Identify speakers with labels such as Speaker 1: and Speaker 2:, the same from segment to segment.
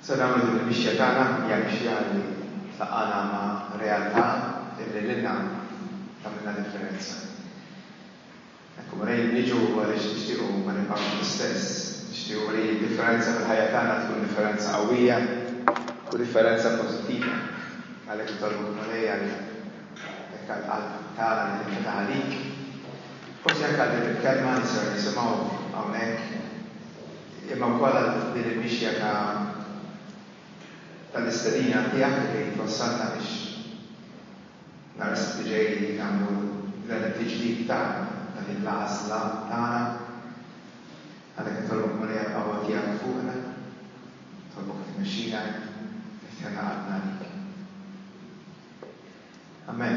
Speaker 1: Se nagħmlu din il-mixja tagħna, hija mixja li tlaqqagħna ma' realtà illi lilna tagħmilna differenza. Hekk hu mrejjin niġu għaliex nixtiequ ma nibqgħux l-istess, nixtiequ li d-differenza fil-ħajja tagħna tkun differenza qawwija u differenza pożittiva. Għalhekk nitolbuk Mulej għal hekk għall-qalb tagħna li tinfetaħ għalik, forsi anke għal din il-kelma li ser nisimgħu hawnhekk, imma wkoll għal din il-mixja ta' tal-istedina tiegħek li qegħdin twassalna biex nhar is-Sibt li ġej nagħmlu dan it-tiġdid ta' dan il-għażla tagħna. Għalhekk nitolbok Marija l-qawwa tiegħek fuqna, nitolbok tmexxina, niftiħna qalbna għalik. Amen.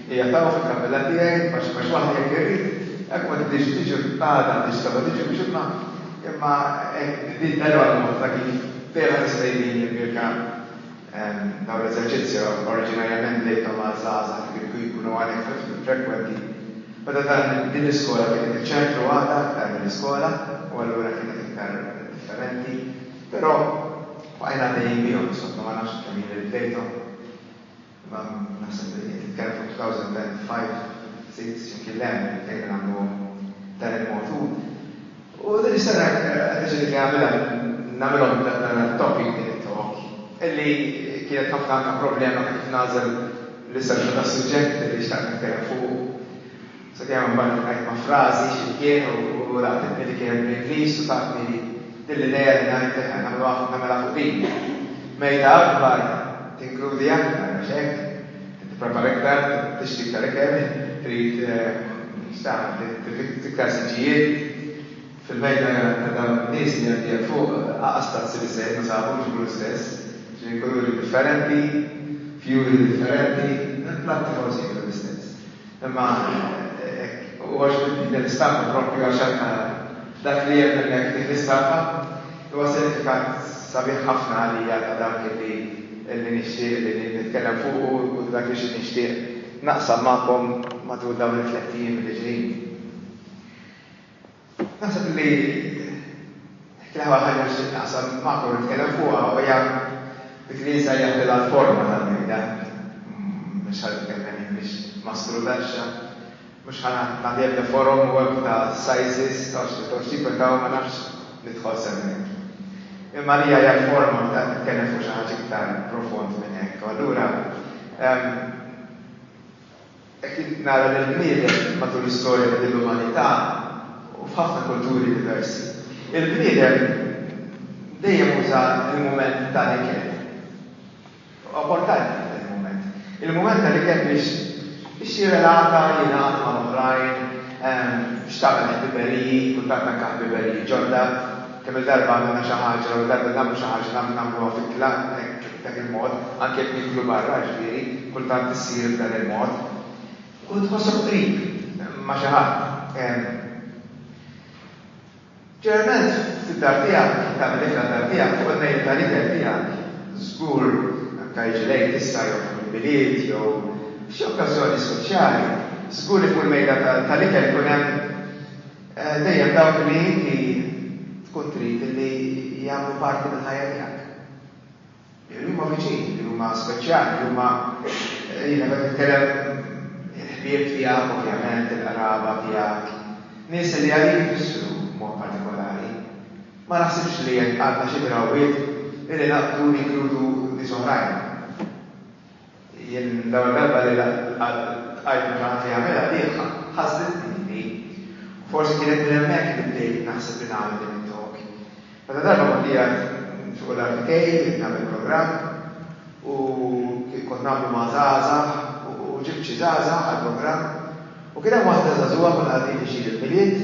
Speaker 1: Hija ta' u fil-kappella tiegħi, għax għax waħdi hekk irid, hekk ma tidhirx tiġi, għada ma tidhirx sabat tiġi biex imma imma hekk din dehru għal moħħna kif ferħa tista' jbin li Mirka dawn l-eżerċizzji oriġinarjament bdejthom għal żgħażagħ li kienu jkunu għan iktar frekwenti meta dan din l-iskola kienet iċ-ċentru għada iktar milli skola u allura kienet iktar differenti però bqajna għaddejjin bihom insomma ma nafx kemm jien li bdejthom. Naħseb li qed titkellem fuq 2005, ftit xi mkien le, bdejna nagħmlu b'dan il-mod. U din is-sena qed niddeċiedi li nagħmilha, nagħmilhom dan it-topic, din it-talk, li kienet ħafna anke problema ta' kif nagħżel l-istruttura tas-suġġett li xtaqt nitkellem fuqu. Sakemm imbagħad iltqajt ma' frażi xi mkien u laqtitni li kienet bl-Ingliż u tatni din l-idea li ngħid eħe, nagħmilha fuq din. Mejda akbar tinkludi aktar, għax hekk, trid tipprepara iktar, tixtri iktar ikel, trid, x'tagħmel, trid iktar siġġijiet. Fil-mejda ta' dawn in-nies li għaddejja fuq, anqas tazzi biżżejjed ma sabu jġibu l-istess, ġieli kuluri differenti, fjuri differenti, il-platti forsi kienu l-istess. Imma hekk u għax din l-istampa proprju għax anke dak li hemm hemmhekk f'dik l-istampa huwa sinifikat sabiħ ħafna għalija ta' dak li li nixtieq li nitkellem fuqu u dak li xi nixtieq naqsam magħkom matul dawn it-tlett ijiem li ġejjin. Naħseb li kienet ħaġa li nixtieq naqsam magħkom u nitkellem fuqha u hija dik li nsejjaħ lilha l-forma tal-mejda. Mhux ħa nitkellem jien biex ma strudaxxa, mhux ħa nagħti ebda forom u ebda ta' sizes għax nidħol xi tip ta' u ma nafx nidħol sew hemmhekk. Imma għalija hija l-forma meta qed nitkellem fuq xi ħaġa iktar profond minn hekk. U allura Hekk kif nara lill-bniedem matul l-istorja ta' din l-umanità u f'ħafna kulturi diversi, il-bniedem dejjem uża l-mument tal-ikel. Huwa importanti dan il-mument. Il-mument tal-ikel biex biex jirrelata, jingħaqad mal-oħrajn, biex tagħmel ħbiberiji, kultant anke ħbiberiji ġodda. Kemm-il darba għamilna xi ħaġa u darba li nagħmlu xi ħaġa nagħmlu nagħmluha fi klan hekk b'dak il-mod, anke jekk nieklu barra, jiġifieri, kultant issir b'dan il-mod. Tkun tħossok qrib ma' xi ħadd. Ġeneralment fid-dar tiegħek, tagħmel l-ikla d-dar tiegħek fuq il-mejda tal-ikel tiegħek. Żgur, anke jiġi l-Għid issa jew fuq il-Milied jew f'xi okkażjoni speċjali, żgur li fuq il-mejda tal-ikel ikun hemm, Dejjem dawk li inti tkun trid li jagħmlu parti mill-ħajja tiegħek. Li huma viċin, li huma speċjali, li huma, jiena qed nitkellem il-ħbieb tiegħek ovvjament, il-qraba tiegħek, nies li għalik ifissru b'mod partikolari. Ma naħsibx li għandna xi drawwiet li naqbdu li jinkludu nies oħrajn. Jien l-ewwel darba li ltqajt ma' xi ħadd li għamilha bih ħassitni lili. U forsi kienet minn hemmhekk li bdejt naħseb li nagħmel din it-talk. Meta darba kont qiegħed fuq id-dar tiegħi qed nagħmel programm u kont nagħmlu ma' żgħażagħ u ġibt xi żgħażagħ għall-programm u kien hemm waħda żagħżugħa konna qegħdin viċin il-Milied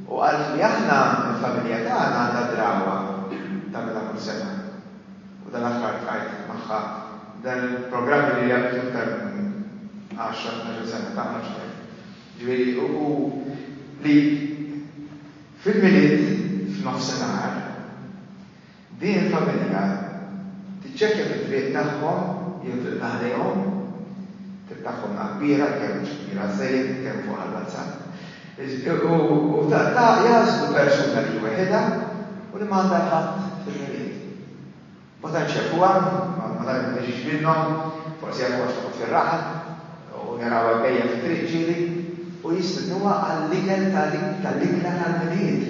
Speaker 1: u qaltli aħna il-familja tagħna għandha drawa tagħmilha kull sena. u tal-aħħar tqajt magħha dan il-programm li ilha bidu iktar minn għaxra, tnax-il sena, tagħmel xi ħaġa. Ġifieri u li fil-Milied f'nofsinhar din il-familja tiċċekkja fit-triq tagħhom jew triq ta' ħdejhom, triq tagħhom la kbira, kemm mhux kbira żejjed, kemm fuqha l-WhatsApp, U ta' jagħżlu persuna li hi weħidha u li m'għandha l-ħadd fil-Milied. Ma tantx jafuha, ma tantx ma tiġix minnhom, forsi jafuha għax toqgħod fir-raħal u narawha jbejja fit-triq ġieli u jistidnuha għall-ikel tal-ikla tal-Milied.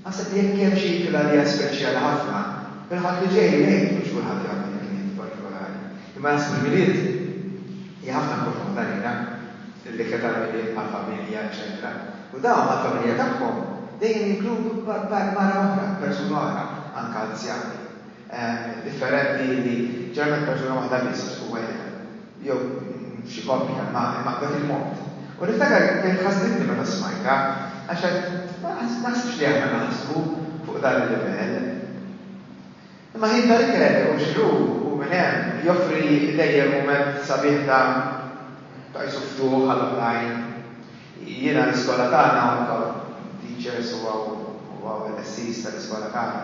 Speaker 1: Aħseb li jekk hemm xi ikla li hija speċjali ħafna, il-Ħadd li ġej ngħid mhux kulħadd jagħmel il-Milied partikolari, imma naħseb il-Milied hija ħafna importanti għalina. li kien ta' mill-ilma għall-familja, eċċetera U dawn mal-familja tagħhom dejjem jinkludu mara oħra, persuna oħra, anke anzjani differenti li ġeneralment persuna waħda biss u weħidha jew f'xi koppja imma b'dak il-mod. U niftakar kif ħasditni meta smajtha għax għedt, 'Ma naħsibx li aħna naħsbu fuq dan il-livell. Imma ħin ta' ikel u xrub u minn hemm joffri dejjem mument sabiħ ta' ta' qisu ftuħ għal oħrajn. Jiena l-iskola tagħna, hawn hawn teachers u hawn u hawn il-qessis tal-iskola tagħna.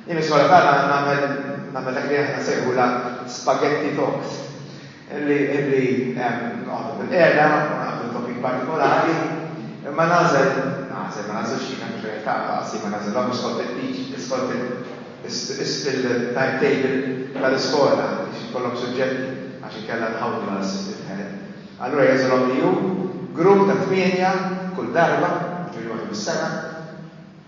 Speaker 1: Jien l-iskola tagħna nagħmel nagħmel dak li aħna nsejħulha spaghetti talks. li nqogħdu bil-qiegħda u naqdu topik partikolari, imma nagħżel, nagħżel, ma nagħżilx jien hemm xejn ta' daqsi, ma nagħżilhomx skont il-liġi, skont il-timetable tal-iskola biex ikollhom suġġetti għax inkella nħawdu l-head. Allura jagħżilhom li hu grupp ta' tmienja kull darba, jiġifieri waħda fis-sena,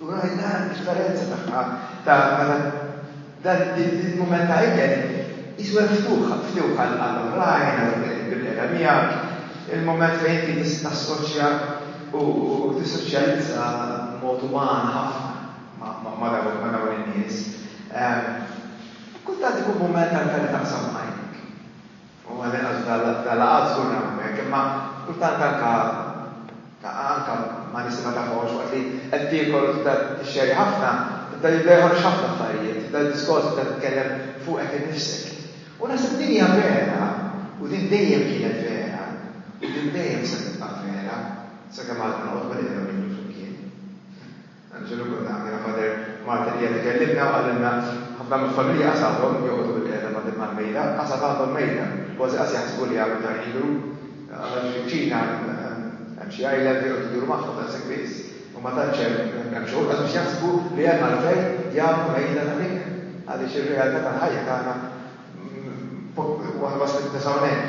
Speaker 1: U rajt l-għan differenza tagħha ta' meta dan il-mument ta' ikel jisu hemm ftuħ, ftuħ għall-oħrajn, għal dawk li qed jiddu qiegħda miegħek, il-mument fejn inti tista' tassoċja u tissoċjalizza b'mod uman ħafna ma' dawn in-nies. Kultant ikun mument għall-karità qsam ma' għajnejk. U ma l-inqas f'dal-laqgħat żgur nagħmlu hekk, imma kultant anke anke ma' nies li ma tafhomx, waqt li qed tiekol u tibda tixxerri ħafna, tibda jibda joħorġ ħafna affarijiet, tibda d-diskors tibda titkellem fuqek innifsek. U naħseb li din hija vera u din dejjem kienet vera u din dejjem se tibqa' vera sakemm għadna noqogħdu bil-qeda u niklu flimkien. Anġelu konna għandna Father Martin qiegħed ikellimna u qalilna ħafna mill-familji qas għadhom joqogħdu bil-qiegħda ma' din mal-mejda, qas għad għandhom mejda, kważi qas jaħsbu li għadu ta' Ilu, għax fiċ-Ċina hemm xi għajla li joqogħdu jduru magħhom daqshekk biss u ma tantx hemm hemm xogħol qas biex jaħsbu li hemm għalfejn jagħmlu mejda ta' ħin, għaliex ir-realtà tal-ħajja tagħna waħda ma spiċċa hawnhekk.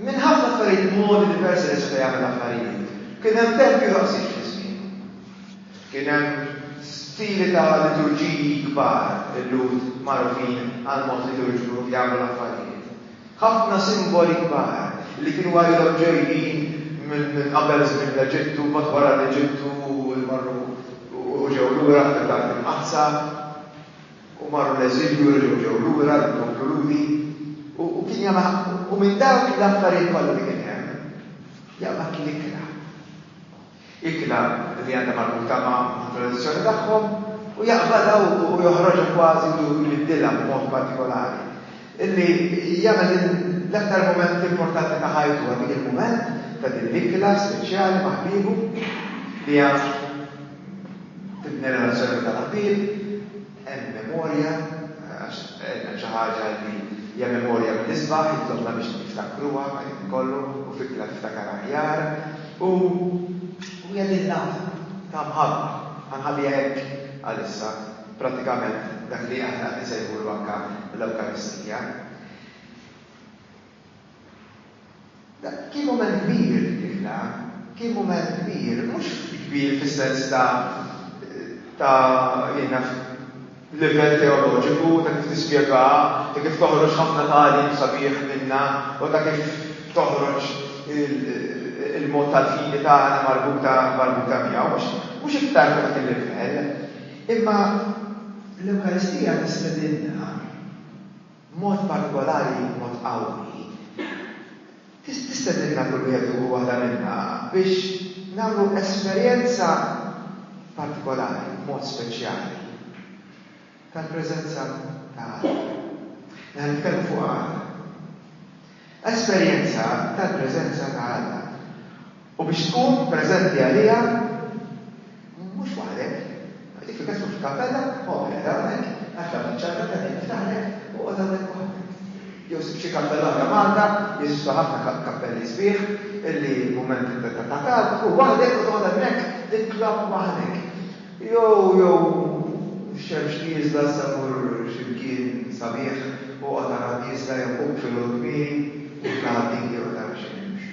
Speaker 1: Minn ħafna affarijiet modi diversi li seta' jagħmel affarijiet, kien hemm tempju daqshekk fi żmienu. Kien hemm stili ta' liturġiji kbar, il-Lhud magħrufin għall-mod liturġiku kif jagħmlu l-affarijiet. Ħafna simboli kbar li kienu għajrhom ġejjin minn qabel żmien l-Eġittu, mbagħad wara l-Eġittu u marru u ġew lura fl-Art Imqaddsa. u marru l-eżilju u reġgħu ġew lura lil poplu Lhudi u u kien Jahweh ħaqqu. U minn dawk l-affarijiet kollha li kien hemm, Jahweh kien ikla. Ikla li għandha marbuta ma' tradizzjoni tagħhom u jaqbadha u joħroġha kważi u jbiddilha b'mod partikolari. Illi jagħmel din l-aktar mument importanti ta' ħajtu għal dik il-mument ta' din l-ikla speċjali ma' ħbiebu li hija Fil-ġenerazzjoni ta' qabel hemm memorja għax hemm xi ħaġa li hija memorja mill-isbaħ, jitlobna biex niftakruha ma' dak kollu u fikra tiftakar aħjar u hija din l-għaqda ta' mħabba. Ħa nħalliha hekk għalissa, prattikament dak li aħna qed insejħulu anke l-Ewkaristija. Kien mument kbir dik il-ħla, kien mument kbir, mhux kbir fis-sens ta' ta' jien naf livell teoloġiku, ta' kif tispjegaha, ta' kif toħroġ ħafna tagħlim sabiħ minnha u ta' kif toħroġ il-mod tal-fidi tagħna marbuta marbuta miegħu, mhux mhux iktar ta' dak il-livell. Imma l-Ewkaristija tistedinna. b'mod partikolari u b'mod qawwi, tistedinna kull wieħed u waħda minna biex nagħmlu esperjenza partikolari u b'mod speċjali tal-preżenza ta' Alla. Li ħa nitkellmu fuqha għada. esperjenza tal-preżenza ta' Alla u biex tkun preżenti għaliha mhux waħdek, dik fil-każ tkun f'kappella, oqgħod qed hawnhekk, għaxla minn ċappella ta' din niftaħlek, oqgħod hawnhekk waħdek. Jew sib xi kappella oħra Malta, jeżistu ħafna kappelli sbieħ li mument ta' talb tkun waħdek u toqgħod hemmhekk titlob waħdek. Jew, jew x-xemx nieżla issa mur xi mkien sabiħ u oqgħod ara nieżla jew qum filgħodu kmieni u tla' għad-digi oqgħod ara xi xemx.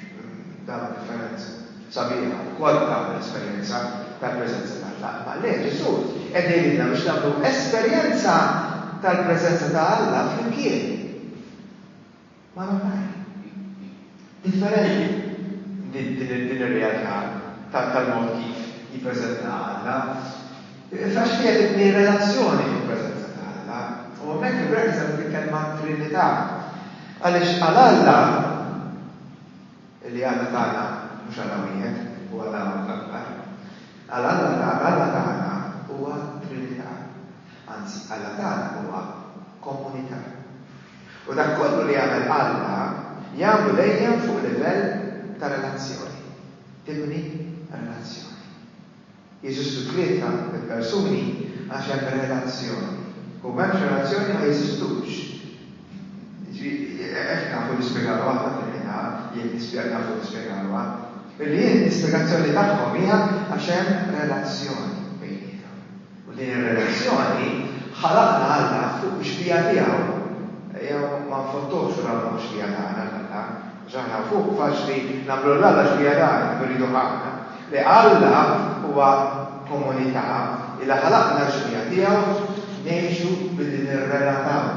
Speaker 1: Tara differenza sabiħa u kont tagħmel esperjenza tal-preżenza t'Alla. Imma le, Ġesù qed jgħidilna biex nagħmlu esperjenza tal-preżenza ta' Alla flimkien. mar oħrajn. Differenti din ir-realtà tal-mod kif jippreżentaha Alla, għax fiha tibni r-relazzjoni fil-preżenza ta' Alla. U hemmhekk fil-Greku semmit il-kelma Trinità, għaliex għal Alla, li Alla tagħna mhux Alla wieħed, hu Alla akbar, għal Alla tagħna, Alla tagħna huwa Trinità, anzi Alla tagħna huwa komunità. U dak kollu li jagħmel Alla jagħmlu dejjem fuq livell ta' relazzjoni. Tibni relazzjoni. Jeżistu tlieta il-persuni għax hemm relazzjoni. U m'hemmx relazzjoni ma jeżistux. Jiġifieri, hekk nafu nispjegaluha aħna fil-Ħina, jekk nispjeg, nafu nispjegaluha. Li l-ispjegazzjoni tagħhom hija għax hemm relazzjoni bejniethom. U din ir-relazzjoni ħalaqna Alla fuq l-ixbieha tiegħu. Ejjew ma nfottuhx u nagħmluh ix-xbieha tagħna lil Alla, għax aħna fuq faċli nagħmlu lil Alla x-xbieha tagħna kif irridu aħna. Le, Alla huwa komunità illi ħalaqna l-ixbieha tiegħu ngħixu billi nirrelataw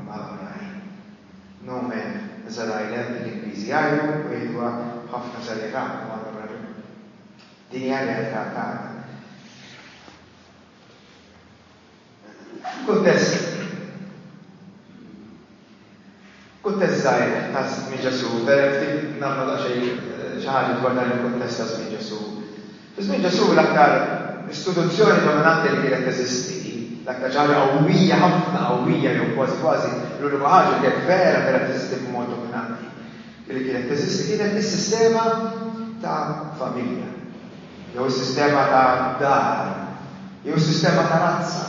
Speaker 1: mal-oħrajn. No man is an island, l-Ingliżi jgħidu u jgħiduha b'ħafna serjetà u għandhom raġun. Din hija r-realtà tagħna. F'kuntest kuntest żgħir ta' żmien Ġesù, vera ftit nagħmlu daqsxejn eh, xi ħaġa dwar dan il-kuntest ta' żmien Ġesù. Fi żmien Ġesù l-aktar istituzzjoni dominanti li kienet teżisti, l-aktar xi ħaġa qawwija ħafna qawwija jew kważi kważi l-unika ħaġa li kienet vera vera teżisti b'mod dominanti li kienet teżisti kienet is-sistema ta' familja, jew is-sistema ta' dar, jew is-sistema ta' razza,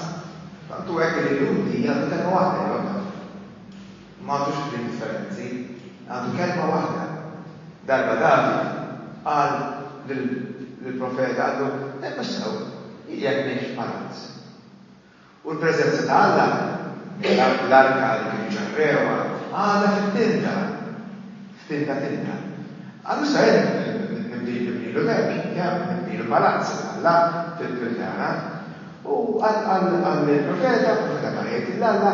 Speaker 1: tant hu hekk li l-Lhudi jgħaddu kelma waħda lilhom dawn. Ma għadux kliem differenti, għadu kelma waħda. Darba David qal lill-profeta, qallu, Ejja sew, jekk mhix palazz. U l-preżenza ta' Alla, l-arka li kienu ġarrewha, għadha fit-tinda, f'tinda tinda. Għal issa hemm nibnilu tempji, hemm nibnilu palazz għal Alla fil-Kildara. U qal lill-profeta, il-profeta mar jgħid lil Alla,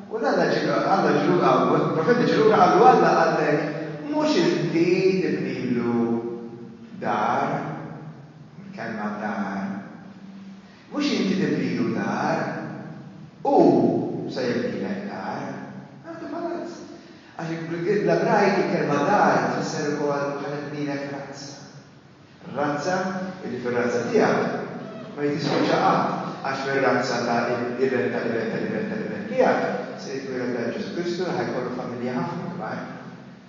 Speaker 1: u l-Alla ġie, Alla ġie lura, il-profeta ġie lura qallu, Alla qallek, Mhux inti tibnilu dar, il-kelma dar. Mhux inti tibnilu dar, hu se jibnilek dar. Għandu palazz. Għax bl-Ebrajk il-kelma dar tfisser ukoll ħa nibnilek razza. Razza illi fir-razza tiegħek ma hi tispiċċa qatt, għax fir-razza ta' l-iben ta' l-iben ta' l-iben ta' l-iben tiegħek se jitwieled dan Ġesù Kristu li ħa jkollu familja ħafna kbar.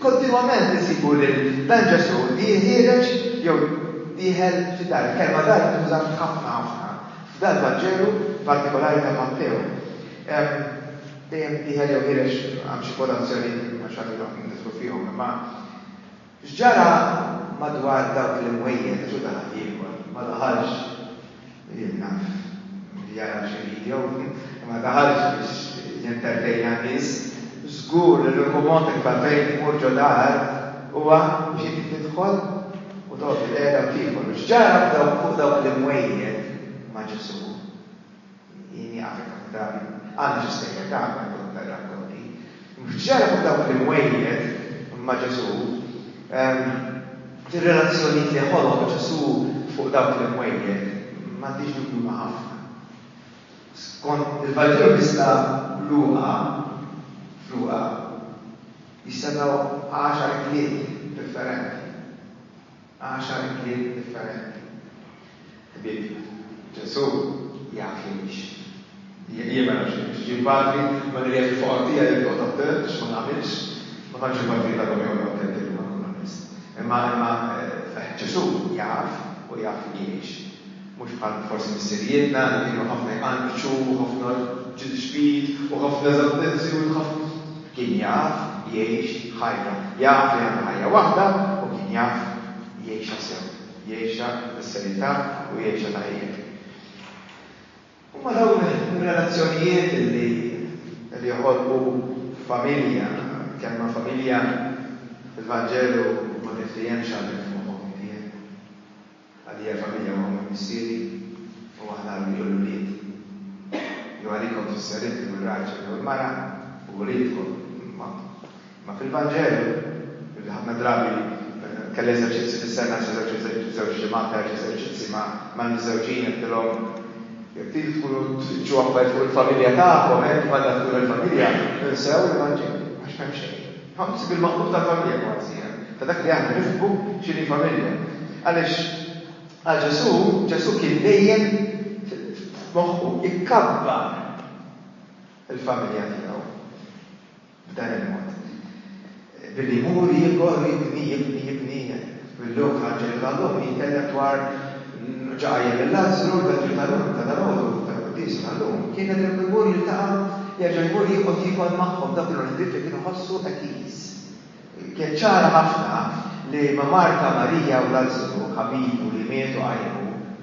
Speaker 1: Kontinwament insibu lil dan Ġesù li jħiereġ jew dieħel f'xi dar. Il-kelma dar tintuża ħafna ħafna f'dal-Vanġelu, partikolari ta' Mattew. Dejjem dieħel jew ħiereġ hemm xi kwotazzjoni ma xi ħadd ilu nidħlu fihom. Imma x'ġara madwar dawk l-imwejjed? Ġesù daħal jiekol, ma daħalx. Jien naf li jara xi video u ma daħalx biex jintertejna n-nies. Żgur li l-uniku mod kif għalfejn imur ġo dar huwa biex inti tidħol u toqgħod bilqiegħda u tiekol. U x'ġara fuq dawk l-imwejjed ma' Ġesù? Jien nieqaf hekk ħafna drabi. Għandha xi serjetà meta nkun qed naqra rkonti. Mhux qed xerraq fuq dawk li mwejjed ma' Ġesù. Fir-relazzjonijiet li ħoloq Ġesù fuq dawk li mwejjed m'għandix dubju ma' ħafna. Skont il-Vanġelu kif sar Luqa, f'Luqa, jissemmgħu għaxar kliem differenti. Għaxar kliem differenti. Ħbieb, Ġesù jaf li mhix. Jien ma nafx jekk ġie l-Patri, imma nirjieħ il-foqra tiegħi jekk noqgħod attent għax ma nagħmilx. Ma tantx il-Patri jitgħallhom joqogħdu attenti illum għal kull abbis. Imma, imma, Ġesù jaf u jaf li jgħix. mhux bħal forsi missirijietna li kienu ħafna jqanqxu u ħafna ġid-ġdid u ħafna żattenzjun ħafna kien jaf jgħix ħajja, jaf li għandu ħajja waħda u kien jaf jgħixha sew, jgħixha bis-serjetà u jgħixha tajjeb. Huma dawn ir-relazzjonijiet li li joħolqu familja, kelma familja fil-Vanġelu ma niftiehemx għalhekk f'moħħok inti, eh? Għalija familja huwa minn missieri u aħna ommijiet u l-ulied. Jew għalikom tfisser inti u r-raġel jew il-mara u uliedkom. Imma fil-Vanġelu, li ħafna drabi kelli eżerċizzji fis-sena, żewġ ġimgħat ta' eżerċizzji mal-miżżewġin, għedtilhom, Jekk tridu tkunu tfittxu affarijiet fuq il-familja tagħkom, hekk kif għandha tkun il-familja, insew il-Vanġelu, għax m'hemm xejn. Ħassib il-maqlub ta' familja kważi, ta' dak li aħna nifhmu x'inhi familja. Għaliex għal Ġesù, Ġesù kien dejjem f'moħħu jkabbar il-familja tiegħu b'dan il-mod. Billi jmur jikber u jibni, jibni, jibni. Mill-lum tħaġġel u tal-lum jitkellem dwar ġa qajjem lil Lazzru, l-Vangelu ta' dalgħodu, tal-Quddiesa tal-lum, kien nedem u jmur jiltaqa' jerġa' jmur joqgħod jiekol magħhom, dawk kienu l-ħbieb li kien iħossu qekiż. Kienet ċara ħafna li ma' Marta, Marija u Lazzru, ħabibu li miet u qajmu,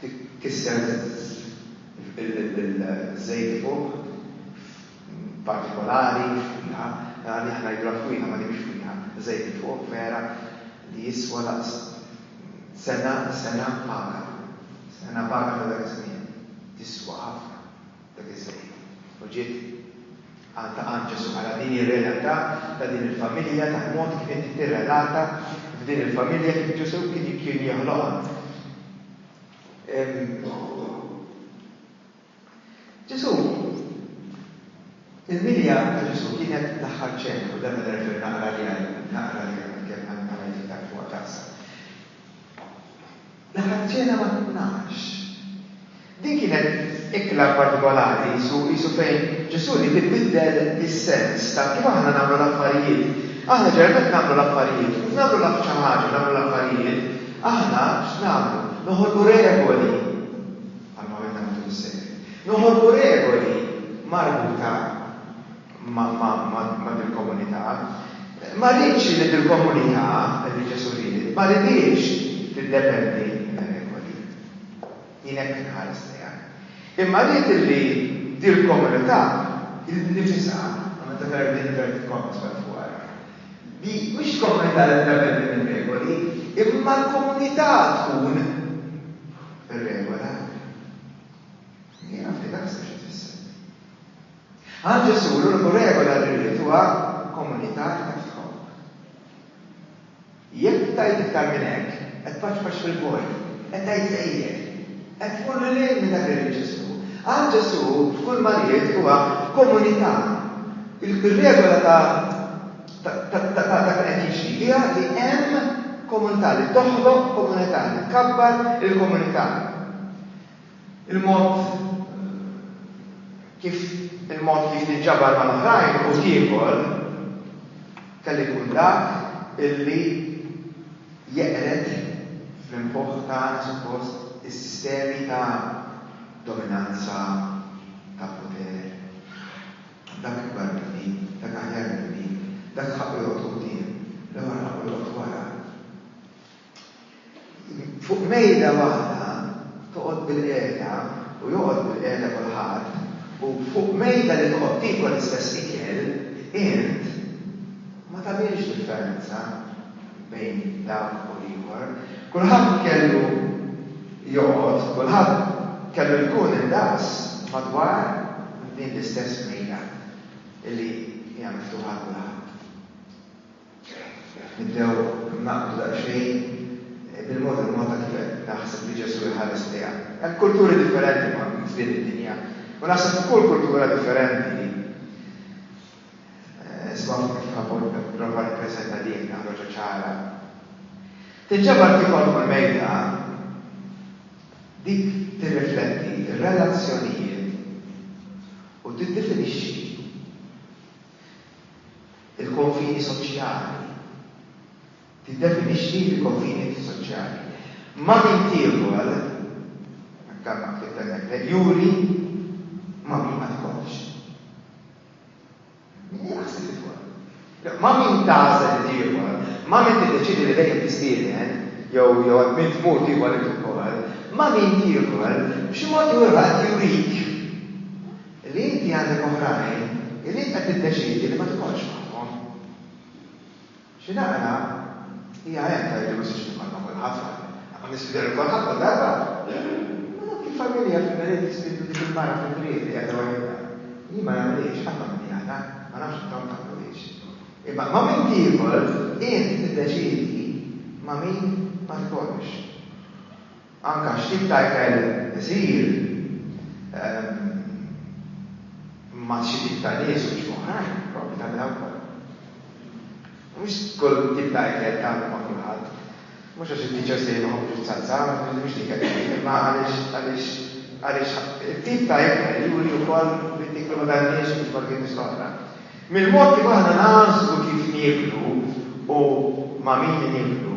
Speaker 1: Titkisser bil-żejt fuq, f'partikolari, f'fwieħa. Mela għalih ngħidulha fwieħa ma di mhix fwieħa. Żejt fuq, vera, li jiswa daqs sena, sena paga. Sena paga ta' dak iż-żmien. Tiswa ħafna. Dak iż-żmien. U ġiet għal ta' għand Ġesù. Ara din hi r-realtà ta' din il-familja, tal-mod kif inti tirrelata f'din il-familja kif Ġesù kien jeħloqha. Ġesù, il-milja ta' Ġesù kienet l-aħħar ċena, u dan nerfer naqra li naqra li kemm għamilek iktar fuq taqsa. Daħal ċena mat-tnax. Din kienet ikla partikolari, qisu, qisu fejn Ġesù ried ibiddel is-sens ta' kif aħna nagħmlu l-affarijiet. Aħna ġeneralment nagħmlu l-affarijiet, u nagħmlu l-aff xi ħaġa, nagħmlu l-affarijiet, aħna x'nagħmlu? Noħolqu regoli, bħalma għamilna matul is-sekli, noħolqu regoli marbuta. ma' dil-komunità. Ma rridx li dil-komunità, li Ġesù ried, ma ridhiex tiddependi mir-regoli. Jien hekk inħares lejha. Imma ried li dil-komunità innifisha, u meta tara din inverted commas b'hemm fuq ara, li mhux il-komunità li tiddependi mir-regoli, imma l-komunità tkun ir-regola. Jiena naf li dak sew xi tfisser. Għal Ġesù, l-uniku regola li rrid huwa komunità li tagħtik ħobb. Jekk tajt iktar minn hekk, qed tpaċpaċ fil-vojt, qed tgħid sejjer, qed tmur lil hinn minn dak li ried Ġesù. Għal Ġesù, kull ma ried huwa komunità. Ir-regola ta' dak li qed jiġri hija li hemm komunità, li toħloq komunità, li tkabbar il-komunità. Il-mod kif il-mod kif tinġabar mal-oħrajn u tiekol kellu jkun dak illi jeqred fl-imħuħ tagħna suppost is-sistemi ta' dominanza, ta' poter, dak ikbar minni, dak aħjar minni, dak ħaqqu joqgħod quddiem, l-ieħor ħaqqu joqgħod wara. Fuq mejda waħda toqgħod bilqiegħda u joqgħod bilqiegħda kulħadd, u fuq mejda li toqgħod tiekol l-istess ikel int, ma tagħmilx differenza bejn dawk u l-ieħor. Kulħadd kellu joqgħod, kulħadd kellu jkun indaqs madwar din l-istess mejda li hija miftuħa għal kulħadd. Nibdew naqbdu daqsxejn bil-mod il-mod ta' kif qed naħseb li Ġesù jħares lejha. Hemm kulturi differenti ma' f'din id-dinja, u naħseb li kull kultura differenti, isma' fuq kif ħa nipprova nippreżenta din ħaġa ċara. Tinġabar tiekol fuq il-mejda, dik tirrifletti r-relazzjonijiet u tiddefinixxi. il-konfini soċjali. Tiddefinixxi l-konfini soċjali. Ma' min tiekol, dan ma ktibt hemmhekk le, juri ma' min ma tikolx. Min hi l-aħseb li tkun? Le, ma' min tagħżel li tiekol, ma' min tiddeċiedi li dejjem tistieden, jew jew għand min tmur tiekol int ukoll, ma' min tiekol, b'xi mod jew ieħor qed jurik. Li inti għandek oħrajn illi int qed tiddeċiedi li ma tikolx magħhom. Xi naqra hija hekk tgħid li m'għożtix nikol ma' kulħadd ma ma nispiċċa nikol ħadd kull darba. Ma dawk il-familja fil-Milied jistiednu dik il-mara fil-Milied li qiegħda waħidha. Jien ma nagħmilhiex, qatt ma minni għada, ma nafx intom tagħmluhiex. Imma ma' min tiekol int tiddeċiedi ma' min ma tikolx. Anke x'tip ta' ikel isir, ma' xi tip ta' nies u x'ma' oħrajn, proprju tagħmilha wkoll. Mhux kull tip ta' ikel tagħmlu ma' kulħadd. Mhux għax it-tiċosej ma jħobbux is-salsa, mhux dik qed ngħid, imma għaliex għaliex it-tip ta' ikel juri wkoll min tiklu ma' dan-nies u mhux ma' dik in-nies l-oħra. Mill-mod kif aħna nagħżlu kif nieklu u ma' min nieklu,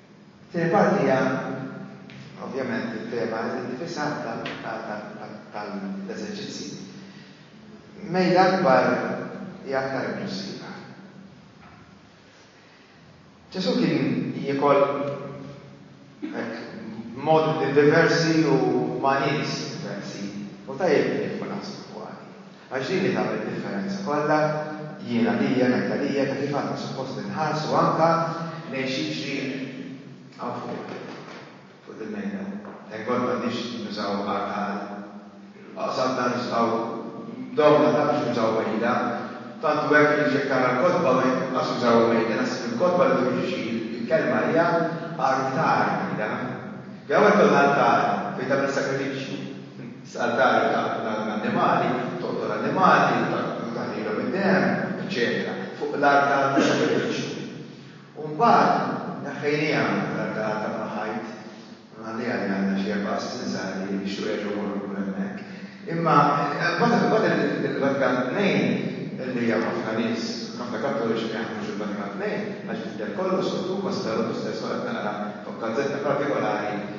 Speaker 1: It-tieni parti hija ovvjament it-tema innifisha tal-eżerċizzji. Mejda akbar hija aktar inklussiva. Ġesù kien jiekol hekk b'modi diversi u ma' nies diversi u tajjeb li jkun naħsbu dwar. Għax din hi tagħmel id-differenza kollha, jien għalija, ngħid għalija, ta' kif aħna suppost inħarsu anke lejn x'jiġri hawn fuq, fuq dil-mejda. Thank God m'għandniex nużaw art għal oqsabna nistgħu domna ta' biex nużaw mejda. Tant hu hekk li jekk tara l-kotba ma jinqas jużawha mejda, naħseb li l-kotba li turi xi l-kelma hija artar mejda. Jagħmel kollha artar fejn tagħmel sagrifiċċju. Saltare ta' l-annimali, toqtol l-annimali u taħlilhom id-demm, eċċetera fuq l-artal tas-sagrifiċċju. U mbagħad neħħejniha l-artal ta' mal-ħajt, nħalliha li għandha xi erba' għassin żgħar li jixtiequ jerġgħu jmorru lura hemmhekk. Imma mbagħad il-Vatikan Tnejn, li hemm ħafna nies, ħafna Kattoliċi ma jaħdmux il-Vatikan Tnejn għax jidher kollox miktub, ma seta' l-Opus Dei Sola taqra fuq gazzetta partikolari,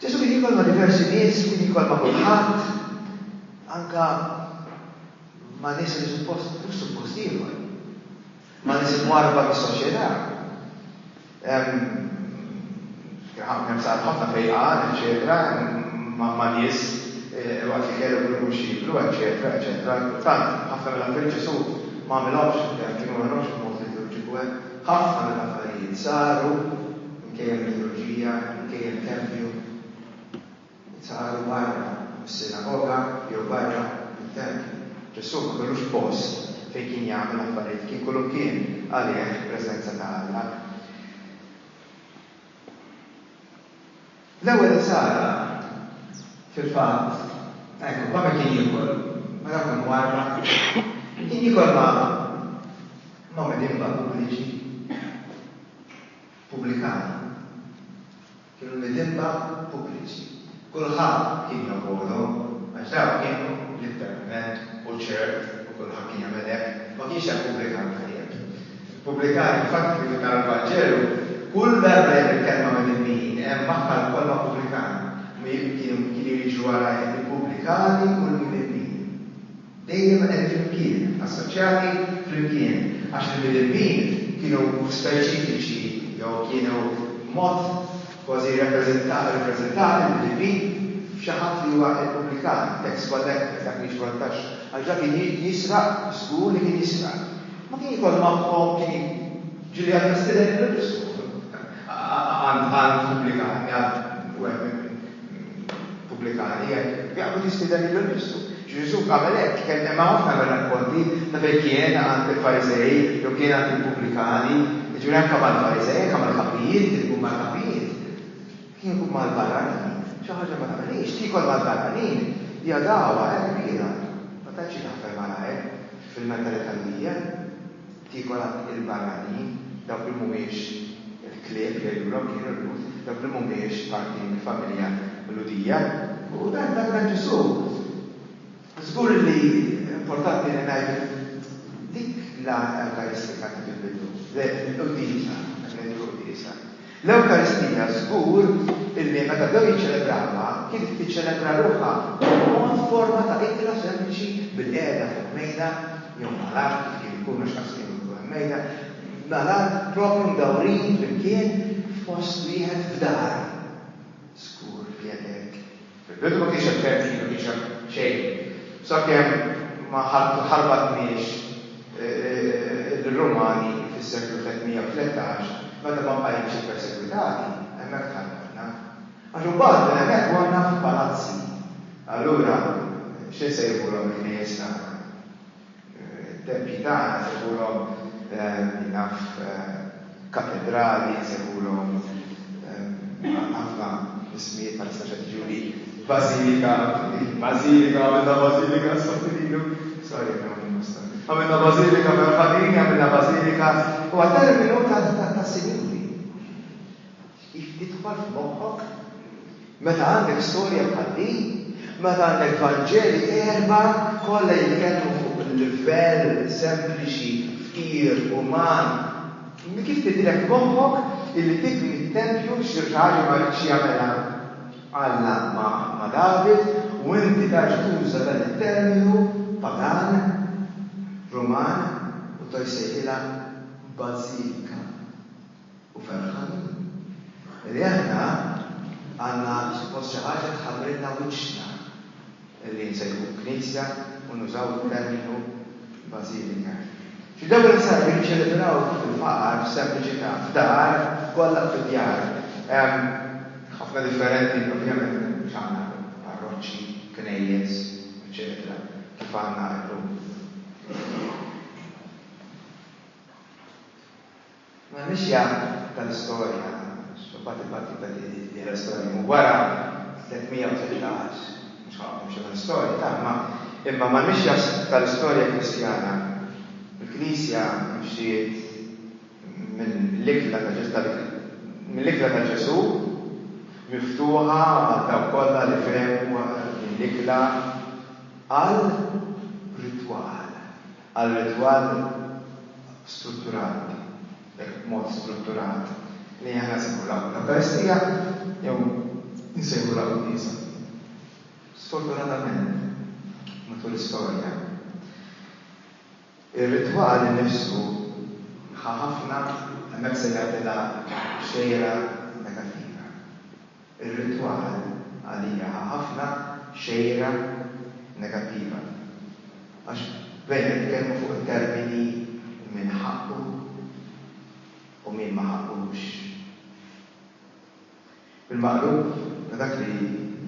Speaker 1: Ġesù kien jikol ma' diversi nies, kien jikol ma' kulħadd, anke ma' nies li suppost mhux suppost jiekol, ma' nies imwarrba mis-soċjetà. Kien ħafna sar ħafna fejqan, eċċetera, ma' nies eh, waqt li kellu kull mhux jieklu, eċċetera, eċċetera. Kultant ħafna mill-affarijiet Ġesù ma għamilhomx, kienu ma għamilhomx il-mod li kienu ġibu hemm. Ħafna mill-affarijiet saru Inkejjen liturġija, inkejjen tempju, li saru barra mis-sinagoga jew barra mit-tempju. Ġesù ma kellux post fejn kien jagħmel affarijiet, kien kullimkien, għalih preżenza ta' Alla. L-ewwel insara, fil-fatt, hekk huwa meta kien jiekol ma' dawk imwarrba, kien jiekol ma' ma' midien Babuliċi. Pubblikani kienu l-midinba pubbliċi. Kulħadd kien jobogħdhom għax dawk kienu l-iktar imnedd u ċert u kulħadd kien jagħmel hekk. Ma kienx hemm pubblikan tajjeb. Il-pubblikani infatti kif ifikkar il-Vanġelu, kull darba li hemm il-kelma midinbin hemm magħha l-kolma pubblikani. Kienu jiġru wara hekk il-pubblikani u l-midinbin. dejjem qegħdin flimkien, assoċjati flimkien, għax il-midinbin kienu speċifiċi jew kienu b'mod kważi rrepreżentati, rippreżentati l-midinbin, f'xi ħadd li huwa il-pubblikan, it-tax collector, dak li jiġbor it-taxxa, għax dak kien jisraq, żgur li kien jisraq. Ma kien jkollu magħhom, kien jiġi ġieli għall-President, kien jkollu l-istess numru. għal pubblikani, għal pubblikani, jekk u tistieden lilu nnifsu. Ġesù għamel hekk, kemm hemm ħafna mir-rakkonti ta' fejn kien għand il-Farisej jew kien għand il-pubblikani, jiġifieri anke mal-Farisej, anke mal-kapijiet, kien ikun mal-kapijiet, kien ikun mal-barranin, xi ħaġa ma tagħmilhiex, tiekol mal-barranin hija dagħwa hekk kbira, ma tantx jien naqbel malajr fil-mentalità li hija. Kieku dak il-barranin, dawk li mhumiex il-klieb jgħidulhom kienu l-Lhud, dawk li mhumiex parti mill-familja Lhudija, u dan dak ta' Ġesù. Żgur li importanti li ngħidu dik l-għan ewkaristika ta' fil-bidu, l-quddiesa, meta ngħidu l-quddiesa, L-Ewkaristija żgur illi meta bdew jiċċelebrawha kienet tiċċelebra ruħha b'mod forma ta' ikla sempliċi bilqiegħda fuq mejda jew mal-art kif kien ikun għax qatt kienu jkunu hemm mejda, mal-art proprju mdawrin flimkien f'post wieħed f'dar. Żgur li hekk. Fil-bidu ma kienx hemm tentki, ma kienx hemm xejn. Sakemm ma ħarbatniex lir-Rumani fis-seklu 313, meta ma bqajniex ippersegwitati, hemmhekk tħarbatna. Għax imbagħad minn hemmhekk morna f'palazzi. Allura x'insejħulhom il-knejjes tagħna? It-tempji tagħna nsejħulhom, min jaf, katedrali, nsejħulhom għandna ħafna ismijiet bħalissa x'qed jiġuli, bażilika, bażilika, għamilna bażilika s-Sant'Ililu, sorry minn hawn il-Mustar, għamilna bażilika fil-Ħadini, għamilna bażilika, huwa terminu tas-Sinjuri. Idħol f'moħħok? Meta għandek storja bħal din, meta għandek Vanġeli erbgħa kollha jitkellmu fuq livell sempliċi, fqir, uman, kif tidhirlek f'moħħok illi tibni t-tempju xi raġel ma riedx jagħmilha? Alla ma' David u inti tarġa' tuża dan it-terminu pagan, Ruman u tgħid sejħilha bażilika. u ferħanin li aħna għandna suppost xi ħaġa tħabbrilna wiċċna li nsejħu Knisja u nużaw it-terminu Bażilika. Xi drabi nsarru jiċċelebraw fil-faqar, fis-sempliċità, f'dar, f'kollha fid-djar. Hemm ħafna differenti, ovvjament mhux għandna parroċċi, knejjes, eċċetera kif għandna llum. M'għandniex jagħmlu tal-istorja, għax imbagħad il-battiba li fih l-istorja jmur wara, 313, mhux ħanoqgħod nimxi mal-istorja ta' imma, imma m'għandniex jaslu tal-istorja Kristjana. Il-Knisja mxiet mill-ikla ta' Ġesù, mill-ikla ta' Ġesù, miftuħa għal dawk kollha li fehmu din l-ikla għal ritwal. għar-ritwal strutturat, jekk b'mod strutturat, li aħna nsejħulha l-Ewkaristija jew insejħulha quddiesa. Sfortunatament, matul l-istorja, ir-ritwal innifsu ħa ħafna, hemmhekk se jagħtilha xejra negattiva. Ir-ritwal għalija ħa ħafna xejra negattiva għax bdejna nitkellmu fuq it-termini min ħaqqu u min ma ħaqqux. Bil-maqlub ta' dak li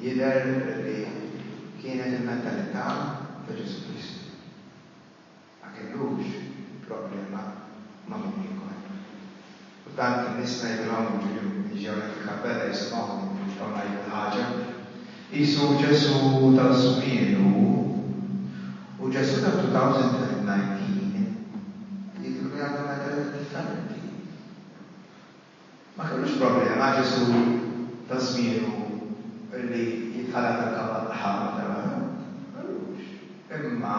Speaker 1: jidher li kienet il-mentalità ta' Ġesù Kristu. Ma kellux problema ma' min ieħor. U tant in-nies ngħidilhom inġieli mhumiex ġew hekk il-kappella jisimgħuni u mhux ġew ngħidu l-ħaġa. Qisu Ġesù ta' żmien hu. U Ġesù ta' 2019 jidhirlu jagħmel metodi differenti. Ma kellux problema Ġesù ta' żmienu li jitħalaq dal-kavall aħmar tal-għana. Ma kellux. Imma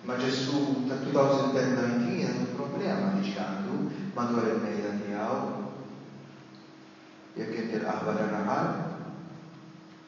Speaker 1: ma' Ġesù tat-2019 għandu problema li ġie għandu madwar il-mejda tiegħu jekk inti l-qaħwa tan-naħal.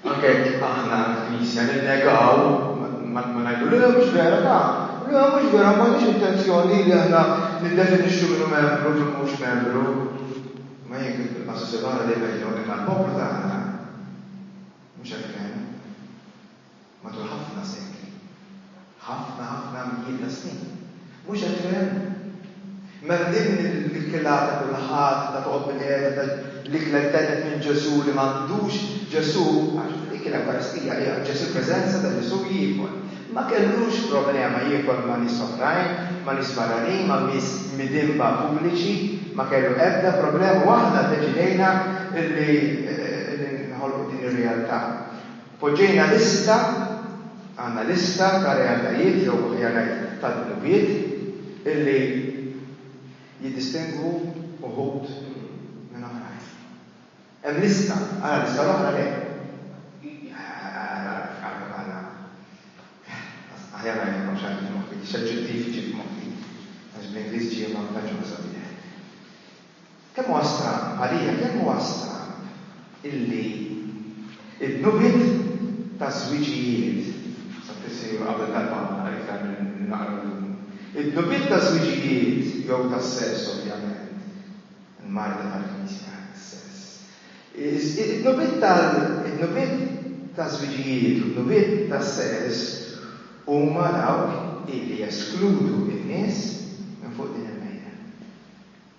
Speaker 1: Anke jekk aħna l-Knisja ninnegaw, ma ngħidu, le mhux vera, ta, le mhux vera, ma m'għandniex intenzjoni li aħna niddefinixxu min hu membru u min mhux membru. Ma jien kif bil-qasas il-oħra dejjem ngħid hawnhekk għall-poplu tagħna, mhux hekk kien matul ħafna sekli. Ħafna, ħafna mijiet ta' snin. Mhux hekk fehemna. Mela din il-kilata kulħadd ta' toqgħod bil-qiegħda ta' l-ikla li tgħedded minn Ġesù li m'għandux Ġesù, għax dik l-Ewkaristija hi aċċess il-preżenza ta' Ġesù jiekol. Ma kellux problema jiekol ma' nies oħrajn, ma' nies barranin, ma' nies midinba pubbliċi, ma kellu ebda problema u aħna ddeċidejna li noħolqu din ir-realtà. Poġġejna lista, għandna lista ta' realtajiet jew aħjar ngħid ta' dnubiet illi jiddistingwu uħud minn oħrajn. Hemm lista, ara l-lista l-oħra le. Aħjar ngħid ma nafx għandi f'moħħi x'aġġettiv iġib f'moħħi għax bl-Ingliż ġie ma nkunx ħa sabiħ. Kemm huwa stramb, għalija kemm huwa stramb illi d-dnubiet taż-żwiġijiet, saqsiet sinjura qabel darba ma naqra iktar milli naqra llum, id-dnubiet taż-żwiġijiet jew tas-sess ovvjament, il-marda tal-Knisja, is-sess, id-dnubiet tal, id-dnubiet taż-żwiġijiet u d-dnubiet tas-sess huma dawk illi jeskludu n-nies minn fuq din il-mejda.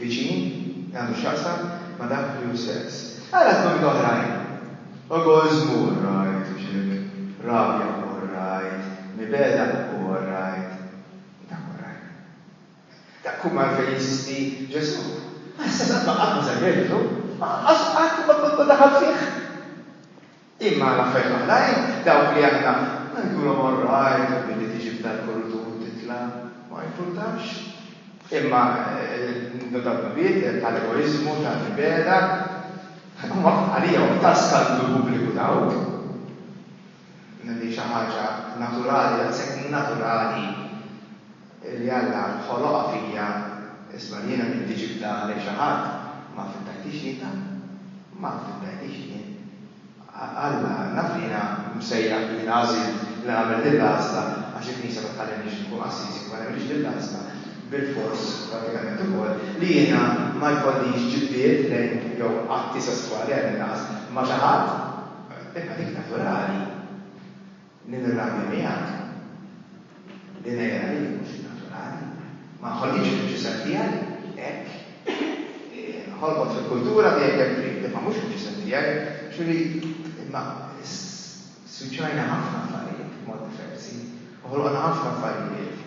Speaker 1: viċin li għandu x'jaqsam ma' dak li hu sess. Ara żmumit oħrajn. Ukoll żmur, rajt, u ċirk, rabja, u rajt, mibegħda, u rajt, dak hu r-rajt. Dak hu għalfejn jeżisti Ġesù. Għas-sess qatt ma żar Ġesù, u lanqas qatt ma daħal fih. Imma għal affarijiet oħrajn, dawk li aħna ngħidulhom all right, billi tiġi f'dal-kuritur u titla', ma jimpurtax. Imma dawk il-bieb tal-egoiżmu, tal-mibegħda, huma għalija huma ta' skandlu pubbliku dawk. Din hi xi ħaġa naturali, daqshekk naturali. li Alla ħoloqha fija isma' li jiena m'intix iftha għalhekk xi ħadd ma affittajtix inta, ma affittajtix jien. Alla naf li jiena msejjaħ li jiena għażilt li nagħmel din l-għażla għax il-Knisja ma tħallinix inkun qassies jekk ma nagħmilx din l-għażla, bilfors prattikament ukoll li jiena ma jkollix ġibdiet lejn jew atti sesswali għall-inqas ma' xi ħadd, imma dik naturali. Nirrabja miegħek. Li ngħidha hi mhux naturali. Ma nħollix fil-ġisem tiegħi hekk. Nħolqot fil-kultura li hekk hemm trid, imma mhux fil-ġisem tiegħi. Ġifieri, imma swiċċajna ħafna affarijiet b'mod diversi u ħolqna ħafna affarijiet.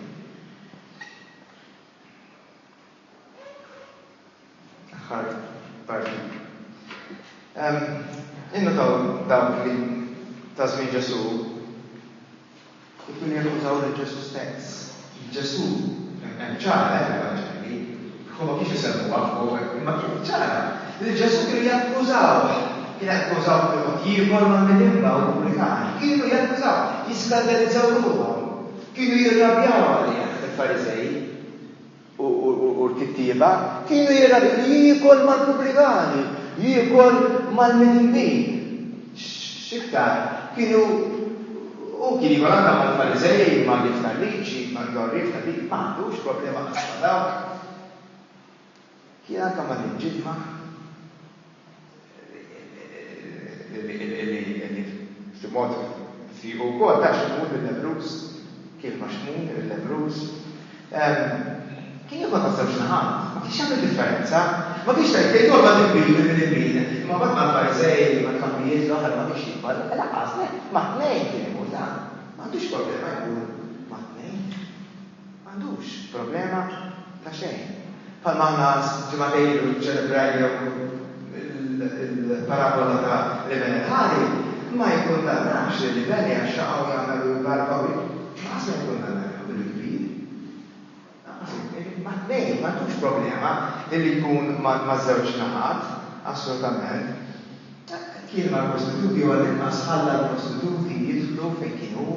Speaker 1: Aħħar parti. Innutaw dawk li ta' żmien Ġesu ikun jakkużaw lil Ġesu stess. Ġesu hemm ċara eh, l-Evanġelji, huma kif isemmuha fuq, imma kien ċara li Ġesu kienu jakkużaw, kien jakkużaw fil-mod ieħor ma' midinba u l-Puritani, kienu jakkużaw, jiskandalizzaw ruħhom, kienu jirrabjaw għalih il-Fariżej. u l-kittieba, kienu jgħidu li jiekol mal-pubblikani, jiekol mal-midinbin. X'iktar, kienu hu kien jiekol anke mal-Fariżej, mal-għarriefa tal-liġi, mal-għarriefa tal-liġi, ma għandux problema qatt ma' dawk. Jiena kemm ma niġġidmaħ li b'xi mod ftiqu wkoll ta' Xmun il-lebbruż, kien ma' Xmun il-lebbruż. Kien jokol maż-żewġ naħat, ma kienx jagħmel differenza. Ma kienx tgħid, tgħid jokol minn min u minn min, imma mbagħad mal-Farisej, mal-kampijiet l-oħra ma kienx jikbar, lanqas le, mat-tnejn kien imur, ta' m'għandux problema jmur mat-tnejn. M'għandux problema ta' xejn. Bħalma aħna ġimgħatej ilu ċċelebrajnew il-parabola ta' l-iben il-ħali, ma jikkundannax lill-iben għax xaqaw jagħmel u jbarka u lanqas ma jikkundanna lilu bil-kbir. Lanqas il-kbir. Mat-tnejn, m'għandux problema li jkun maż-żewġ naħat, assolutament. Kien mal-prostituti jew għall-inqas ħalla l-prostituti jidħlu fejn kien hu.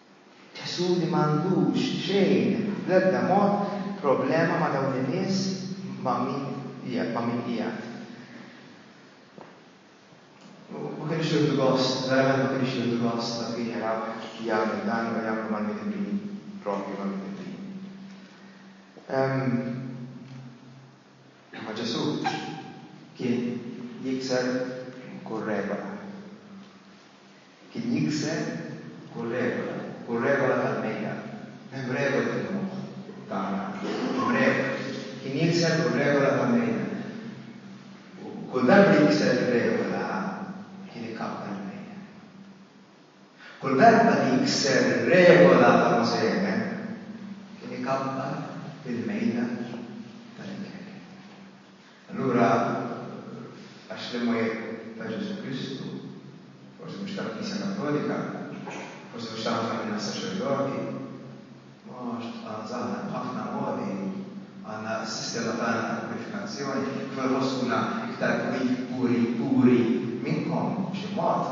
Speaker 1: Ħsud li m'għandux xejn, bl-ebda mod, problema ma' dawn in-nies ma' min ma' min qiegħed. U ma kinux jieħdu gost, verament ma kinux jieħdu gost dawk li jaraw jagħmel dan u jagħmlu mal-midinbin proprju mal-midinbin. Imma Ġesù kien jikser kull regola. Kien jikser kull regola, kull regola tal-mejda. Hemm regoli fil-moħħ tagħna, hemm regoli. Kien jikser kull regola tal-mejda. U kull darba li jikser ir-regola, kien ikabbel il-mejda. Kull darba li jikser ir-regola ta' Mosè, kien ikabbar il-mejda tal-ikel. Allura, għax l-imgħajjeb ta' Ġesù Kristu, forsi mhux tal-Knisja Kattolika, forsi mhux ta' ħafna minna s-saċerdoti, mhux ta' żgħażagħ, b'ħafna modi għandna s-sistema tagħna ta' purifikazzjoni, kif inħossuna iktar puri minnkom, b'xi mod.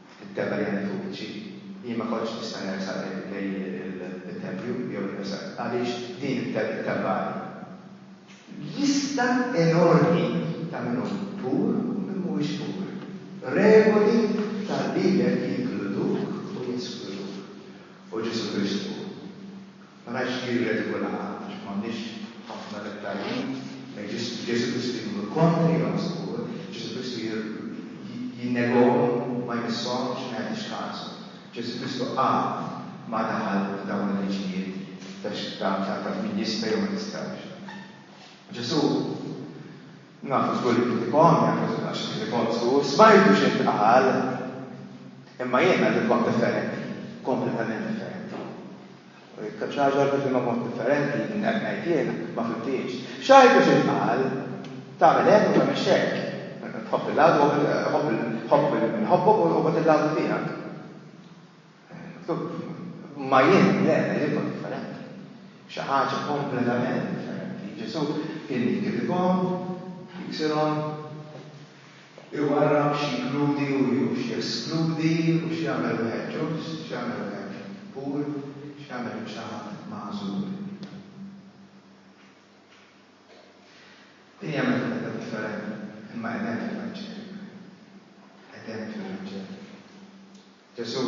Speaker 1: It-tebba li għandi fuq wiċċi, jien ma kontx nista' nersaq lejn it-tempju jew nersaq għaliex din it-tebbali. Lista enormi ta' min hu pur u min mhuwiex pur. Regoli tal-Bibbja li jinkluduk u jeskluduk. U Ġesù Kristu Ma ngħidx li jirredikola ħadd għax m'għandniex ħafna dettalji bejn Ġesù Kristu jmur kontra Jom Sibbur, Ġesù Kristu jinnegahom, ma jmisshomx, ma jagħtix kasu. Ġesù Kristu qatt ma daħal f'dawn il-liġijiet ta' x'tagħmel min jista' jew ma jistax. Ġesù. Nafu żgur li kien ikon, jaf li kien għax kien negozju, u smajt u x'intqal, imma jiena rrid waħda differenti, kompletament differenti. U jekk xi ħaġa oħra tifhimha b'mod differenti minn hekk ngħid jiena, ma fhimtiex. X'għidt u x'intqal? Tagħmel hekk u tagħmilx hekk. Tħobb il-għadu, ħobb min iħobbok u ħobb il-għadu tiegħek. Ma jien, le, jien kont differenti. Xi ħaġa kompletament differenti. Ġesù kien jikkritikahom, jiksirhom, iwarrab x'jinkludi u x'jeskludi u x'jagħmel wieħed ġust, x'jagħmel wieħed pur, x'jagħmel xi ħadd magħżul. Din hija mentalità differenti, imma qed hemm fil-Vanġelu. Qed hemm fil-Vanġelu. Ġesù,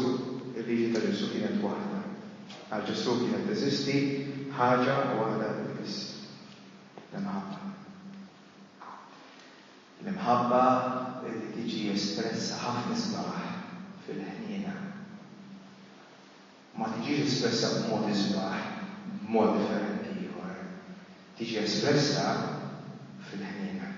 Speaker 1: il-liġi ta' Ġesù kienet waħda. Għal Ġesù kienet teżisti ħaġa waħda biss, l-imħabba. L-imħabba li tiġi espressa ħafna sbaħ fil-ħniena. Ma tiġix espressa b'mod isbaħ b'mod differenti ieħor. Tiġi espressa fil-ħniena.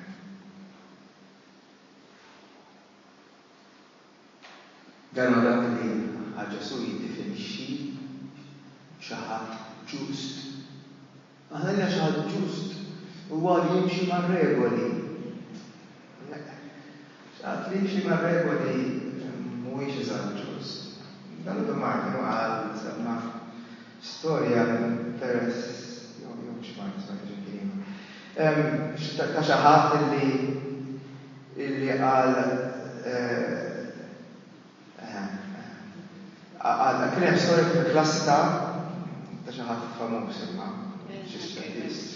Speaker 1: Dan huwa dak li għal Ġesù jiddefinixxi xi ħadd ġust. Aħna għalina xi ħadd ġust huwa li jimxi mar-regoli. Xi ħadd li jimxi mar-regoli mhuwiex eżatt ġust. Dan Martin qal, semma, Storja interessi, jew mhux Mark Twain, ġieli kien ieħor, ta' xi ħadd illi, illi qal, eħe, eħe, kien hemm storja kif il-klassi ta', ta' xi ħadd famuż imma, xi Svediż.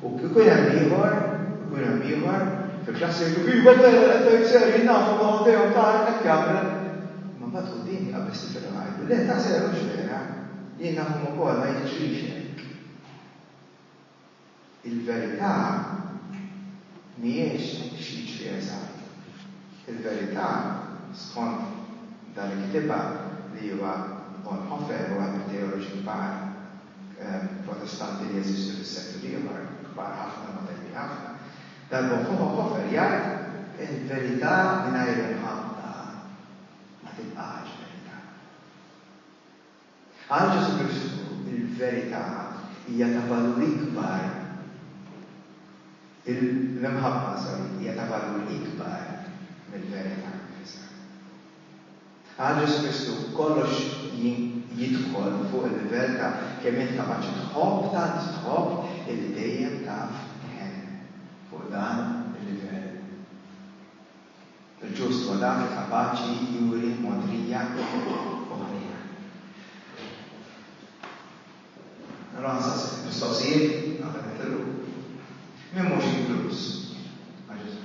Speaker 1: U jkun hemm ieħor, u jkun hemm ieħor, fil-klassi jgħidu, iva vera, l-affarijiet serji nafu ma hu dejjem ta' hekk jagħmel. Imma mbagħad quddiem jaqbeż tifel u jgħidlu, le ta' sew mhux vera, jien nafhom ukoll ma jiġrix hekk. Il-verità mhijiex x'jiġri eżatt. Il-verità, skont dan li kitibha li huwa Bonhoeffer, waħed mit-teoloġi kbar, Protestanti li jeżistu fis-seklu l-ieħor, kbar ħafna, moderni ħafna, dan Bonhoeffer jgħid, Il-verità mingħajr imħabba ma tibqax verità. Għal Ġesù Kristu, il-verità hija ta' valur ikbar, l-imħabba, sorry, hija ta' valur ikbar mill-verità nnifisha. Għal Ġesù Kristu, kollox jidħol fuq il-livell ta' kemm int kapaċi tħobb, tant tħobb illi dejjem taf tħenn. Fuq dan il-livell, il-ġust huwa dak li kapaċi juri mogħdrija u ħniena. Allura nsaqsik il-mistoqsijiet qabel nitilqu. Min mhux inkluż ma' Ġesù?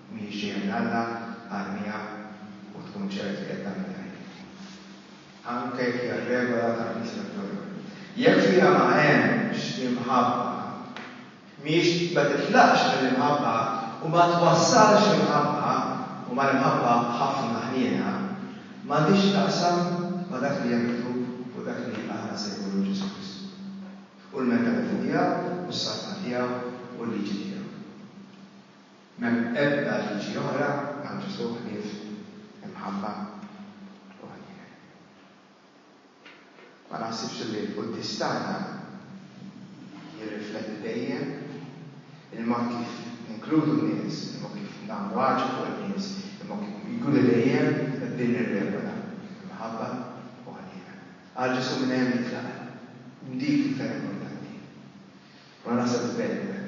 Speaker 1: Mhijiex ġejja minn Alla, armiha u tkun ċert li qed tagħmel l-ħajr. Anke jekk hija r-regola tal-Knisja Kattolika. Jekk fiha ma hemmx imħabba, mhijiex, ma titlaqx mill-imħabba u ma twassalx imħabba, u mal-imħabba ħafna ħniena, m'għandhiex x'taqsam ma' dak li hemm miktub fuq dak li aħna nsejħulu Ġesù Kristu, u l-mentalita' tiegħu, u s-saltna tiegħu, u l-liġi tiegħu. M'hemm ebda liġi oħra għal Ġesù ħlief imħabba u ħniena. Ma naħsibx illi l-quddies tagħna jirrifletti dejjem il-mod kif ninkludu n-nies, il-mod kif nagħmlu għaġeb fuq in-nies, il-mod kif jkunu dejjem b'din ir-regola, imħabba u ħniena. Qal Ġesù minn hemm jitlaq hemm. Dik il-ferm importanti. U naħseb li b'hekk nwemm.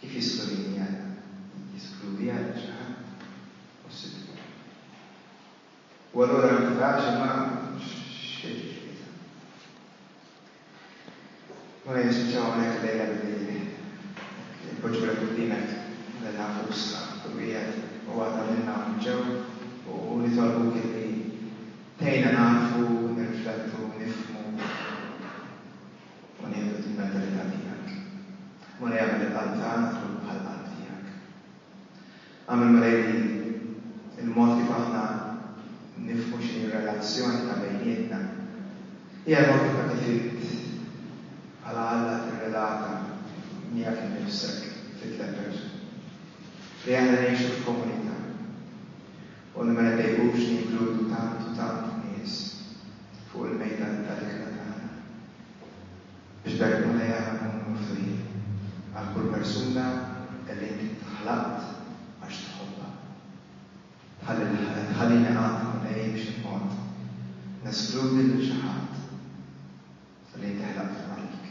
Speaker 1: Kif jiskludini Alla? Jiskludi Alla xi ħadd? Hu s-Siddiq. U allura l-frażi ma x'fitx fiha. Mela jispiċċaw hawnhekk illejla billi npoġġulek quddiemek lil nafusna kull wieħed u waħda minna hawn ġew u nitolbuk illi tgħinna nagħrfu, nirriflettu, nifhmu, u nieħdu l-mentalità tiegħek, u nagħmel il-qalb tagħna tkun bħall-qalb tiegħek. Agħmel malajr li l-mod kif aħna nifhmu x'inhi r-relazzjoni ta' bejnietna hija l-mod kif inti trid bħala Alla tirrelata miegħek innifsek fit-tliet persuni. Li aħna ngħixu f'komunità. u li ma jbejqux ninkludu tant u tant nies fuq il-mejda tal-ikla tagħna, biex b'hekk Mulej Alla nkunu miftuħin għal kull persuna li int ħlaqt għax tħobbha. Tħallini qatt, Mulej, b'xi mod neskludi lil xi ħadd li inti ħlaqtu għalik.